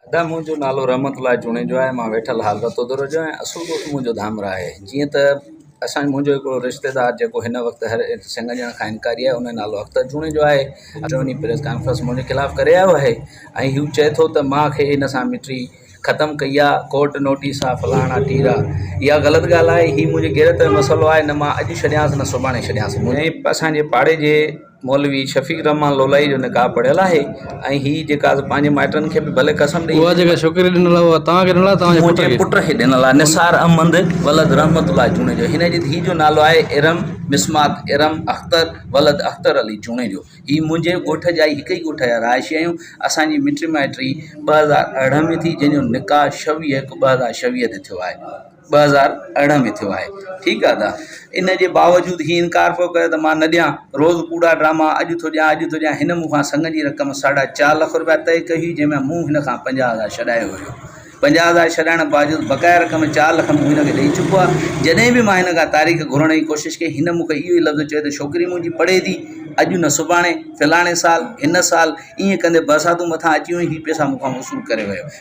ادا منهنجو نالو رحمت الله جوڻيجو آهي مان ويٺل حال رتودر جو ۽ اصل ڳوٺ منهنجو ڌامرا آهي جيئن ته اسان منهنجو هڪڙو رشتيدار جيڪو هن وقت هر سنگ ڏيڻ کان انڪاري آهي ان جو نالو اختر جوڻيجو آهي جو وڃي پريس ڪانفرنس منهنجي خلاف ڪري آيو آهي ۽ هو چئي ٿو ته مان کي هن سان مٽري ختم ڪئي آهي ڪورٽ نوٽيس آهي فلاڻا ٽيرا اها غلط ڳالهه آهي هي منهنجي غيرت جو مسئلو آهي نه مان اڄ ڇڏيانس نه سڀاڻي ڇڏيانس منهنجي اسان جي پاڙي جي مولوي شفيق الرحمان لولائي جو نڪاح پڙهيل آهي ۽ هي جيڪا پنهنجي مائٽن کي به ڀلي قسم ڏئي اها جيڪا ڇوڪري ڏنل آهي اها توهان کي ڏنل آهي توهان جي پٽ کي منهنجي پٽ کي ڏنل آهي نثار احمد ولد رحمت الله جوڻيجو هن جي ڌيء جو نالو آهي ارم مسمات ارم اختر ولد اختر علي جوڻيجو هي منهنجي ڳوٺ جا ئي هڪ ئي ڳوٺ جا رهائشي آهيون اسان جي مٽي مائٽي ٻه هزار ارڙهن ۾ ٿي جنهن جو نڪاح شويهه هڪ ٻه هزار شويهه تي ٿيو آهي ٻه هزار ارڙهن ۾ ٿيو آهي ٺيڪ آ ته ان جي باوجود هي انڪار پيو ڪري ته مان نه ڏيان روز ڪوڙا ڊراما اڄ ٿو ڏيان اڄ ٿو ڏيان هن مون کان سڱ جي رقم ساڍا چار لک روپيا طئي ڪئي هئي جنهن ۾ مون هن کان پنجاهه هزار ڇڏايو هيو پنجاهه هزار ڇڏائڻ باوجود بقايا رقم چار لک مون هن کي ڏئي چڪو آ جڏهن به مان هن کان تاريخ گهرڻ جي ڪوشش ڪئي هن مون کي اهو ئي لفظ چيو ته ڇوڪري منهنجي پڙهي ٿي اڄ نه سڀاڻي فلاڻي سال هن سال ائين ڪندي برساتون مٿان اچي ويون هي پئسا مون کان وصول ڪري ويو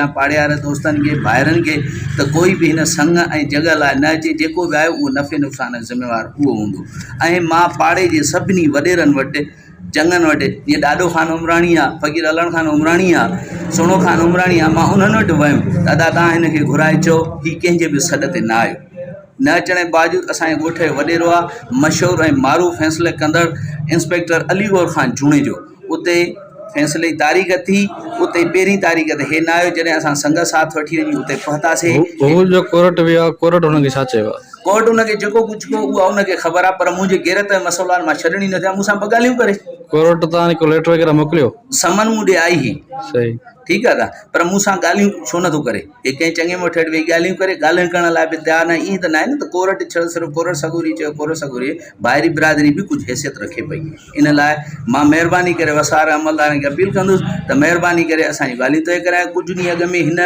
يا پاڙيهار دوستن کي، ڀائرن کي ته ڪوئي به هن سڱ ۽ جڳهه لاء نه اچي، جيڪو به آهي اهو نفعي نقصان جو ذميوار اهو هوندو ۽ مان پاڙي جي سڀني وڏيرن وٽ، چڱن وٽ، جيئن ڏاڏو خان عمراڻي آ، فقير علڻ خان عمراڻي آ، سهڻو خان عمراڻي آ، مان انهن وٽ ويم ته ادا توهان هن کي گهرائي چئو هي ڪنهن جي به سڏ تي نه آيو. نه اچڻ جي باوجود اسان جي ڳوٺ جو وڏيرو آ، مشهور ۽ معروف فيصلي ڪندڙ انسپيڪٽر علي گور خان جوڻيجو. اتي فيصلي جي تاريخ ٿي اتي پهرين تاريخ تي هي نه آيو جڏهن اسان سنگت ساٿ وٺي وڃي اتي پهتاسي هو جو ڪورٽ ويو آهي ڪورٽ هن کي ڇا چيو آهي؟ ڪورٽ هن کي جيڪو ڪجهه ڪيو اها هن کي خبر آهي پر منهنجي غيرت ۽ مسئلو آهي مان ڇڏڻ ئي نه ٿيان مون سان ٻه ڳالهيون ڪري ڪورٽ تان ڪو ليٽر وغيره موڪليو سمن مون ڏي آئي هئي صحيح ٺيڪ آهي ته پر مون سان ڳالهيون ڇو نٿو ڪري هي ڪنهن چڱي مٺ هيٺ ويهي ڳالهيون ڪري ڳالهيون ڪرڻ لاء به تيار ناهي ائين ته ناهي نه ته ڪورٽ ڇڙ صرف ڪورٽ سڳوري چيو ڪورٽ سڳوري ڀائري برادري به ڪجهه حيثيت رکي پئي ان لاء مان مهرباني ڪري وساري عملدارن کي اپيل ڪندس ته مهرباني ڪري اسان جون ڳالهيون طئي ڪرايو ڪجهه ڏينهن اڳ ۾ هن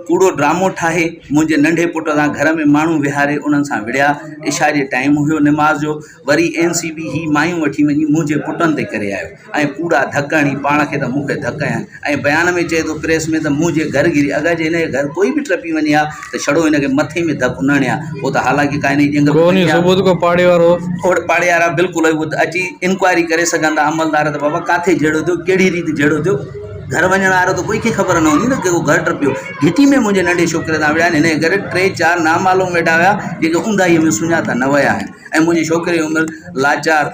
ڪوڙو ڊرامو ٺاهي منهنجي ننڍي پٽ سان گهر ۾ ماڻهو ويهاري انهن سان وڙهيا عشاء جي ٽائيم هيو نماز جو وري اين سي بي هي مايون وٺي وڃي منهنجي پٽن تي ڪري آيو ۽ ڪوڙا ڌڪ هڻي پاڻ کي ته مون کي ڌڪ هنيا ۽ بيان ۾ چئي ٿو پريس ۾ ته مون جي گهر گهري اگر جي هن جي گهر ڪوئي به ٽپي وڃي ها ته ڇڙو هن کي مٿي ۾ ڌڪ نه هڻي ها هو ته حالانڪه ڪا هن جي ڄنگهه به ڀڃي ها. اهڙ پاڙي وارا بلڪل اهي اهي اچي انڪوائري ڪري سگهن ٿا عملدار ته بابا ڪاٿي جهيڙو ٿيو ڪهڙي ريت جهيڙو ٿيو گهر وڃڻ وارو ته ڪوئي کي خبر نه هوندي نه ڪي ڪو گهر ٽپيو گهٽي ۾ منهنجي ننڍي ڇوڪري سان وڙهيا آهن هن جي ڪري ٽي چار نامعلوم ويٺا هيا جيڪي اونداهي ۾ سڃاتا نه ويا آهن ۽ منهنجي ڇوڪري جي عمر لاچار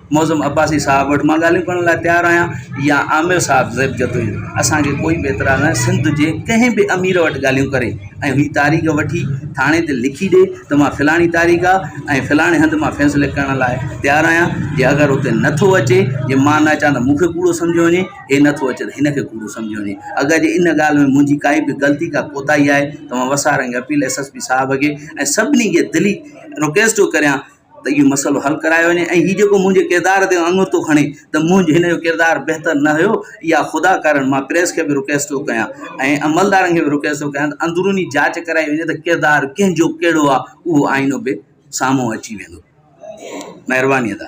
معظم عباسي صاحب وٽ مان ڳالهيون ڪرڻ لاء تيار آهيان يا عامر صاحب زيب جتوئي اسانکي ڪوئي به اعتراض ناهي سنڌ جي ڪنهن به امير وٽ ڳالهيون ڪري ۽ هي تاريخ وٺي ٿاڻي تي لکي ڏي ته مان فلاڻي تاريخ آهي ۽ فلاڻي هنڌ مان فيصلي ڪرڻ لاء تيار آهيان جي اگر هتي نٿو اچي جي مان نه اچان ته مونکي ڪوڙو سمجهيو وڃي هي نٿو اچي ته هنکي ڪوڙو سمجهيو وڃي اگر جي ان ڳالهه ۾ منهنجي ڪائي به غلطي ڪا ڪوتاهي آهي ته مان وسارنگ appeal S S P sahib کي ۽ سڀني کي دلي رڪويسٽ ٿو ڪريان ته اهو مسئلو حل ڪرايو وڃي ۽ هي جيڪو منهنجي ڪردار تي اڱتو کڻي ته منهنجو هن جو ڪردار بهتر نه هيو اها خدا ڪارڻ مان پريس کي به رڪويسٽ ٿو ڪيان ۽ عملدارن کي به رڪويسٽ ٿو ڪيان ته اندروني جاچ ڪرائي وڃي ته ڪردار ڪنهن جو ڪهڙو آهي اهو آئينو به سامهون اچي ويندو مهرباني ادا